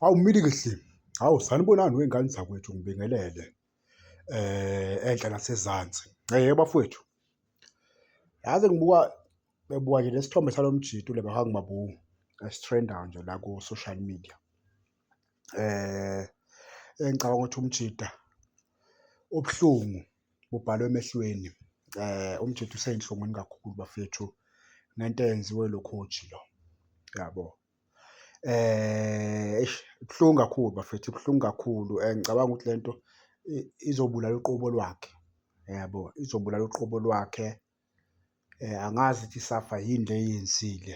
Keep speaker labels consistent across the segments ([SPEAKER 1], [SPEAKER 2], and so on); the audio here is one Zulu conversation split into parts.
[SPEAKER 1] Hawu Mili Kehli, hawu sanibonani wey'ngane zakwethu ngibingelele enhla nasezansi. Yebo bafowethu, yazi ngibuka bebuka nje lesithombe salo mjito le bahangi mabungu esithrendayo nje la ku-social media. Engicabanga ukuthi umjita ubuhlungu bubhalwe emehlweni, umjita usey'nhlungwini kakhulu bafethu ngento eyenziwe lo coach lo, yabo. Eish kubuhlungu kakhulu bafethu kubuhlungu kakhulu and ngicabanga ukuthi le nto izobulala uqobo lwakhe, yabo izobulala uqobo lwakhe. Angazi ukuthi isafa yini le eyenzile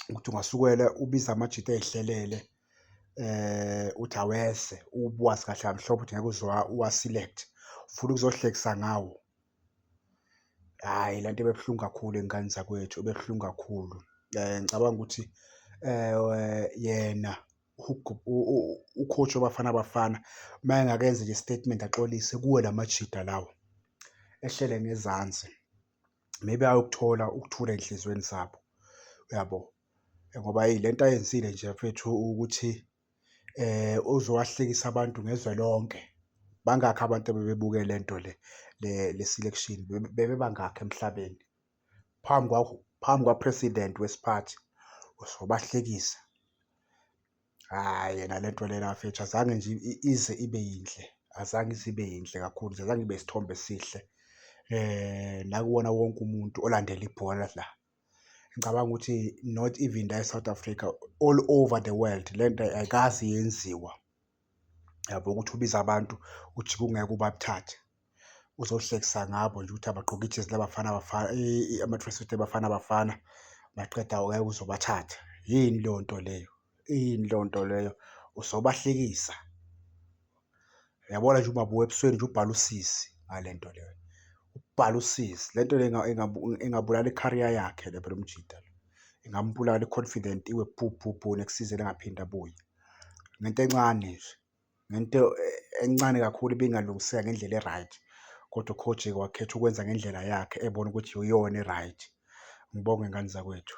[SPEAKER 1] ukuthi ungasukela ubize amajita ezihlelele uthi awese ubuwazi kahle kamhlophe ukuthi ngeke uze uwa-select-e, ufuna ukuzohlekisa ngawo. Hhayi le nto ibe buhlungu kakhulu ey'nganeni zakwethu, ibe buhlungu kakhulu. Ngicabanga ukuthi yena u-coach weBafana Bafana uma engakenzi nje isitatimende axolise kuwe la majita lawa ehlele ngezansi, maybe ayokuthola ukuthula ey'nhlizweni zabo, uyabo? Ngoba hheyi le nto ayenzile nje mfethu ukuthi ozowahlekisa abantu ngezwe lonke. Bangakhi abantu ebebebuke le nto le le le selection bebe bangakhi emhlabeni phambi kwakho phambi kwa-president wesiphathi uzobahlekisa. Hhayi yena le nto lena mfethu azange nje ize ibe yinhle, azange ize ibe yinhle kakhulu nje, azange ibe isithombe esihle nakuwona wonke umuntu olandela ibhola la. Ngicabanga ukuthi not even la e-South Africa, all over the world le nto ayikaze yenziwa, yabo ukuthi ubize abantu ujike ungeke ubathathe. Uzohlekisa ngabo nje ukuthi abagqoke ijezi laBafana Bafana, ama-tracksuit eBafana Bafana, maqede awuke uze ubathathe. Yini leyo nto leyo? Iyini leyo nto leyo? Uzobahlekisa. Uyabona nje uMaBuya ebusweni nje ubhala usizi ngale nto le. Ubhala usizi. Le nto le ingabulala i-career yakhe le phela umjita lo. Ingambulala i-confident iwe bhu bhu bhu nekusizeni engaphinde abuye. Ngento encane nje. ngento encane kakhulu ibingalungiseka ngendlela e-right kodwa uKhojeke wakhetha ukwenza ngendlela yakhe ebona ukuthi iyona e-right. Ngibonge ngane zakwethu.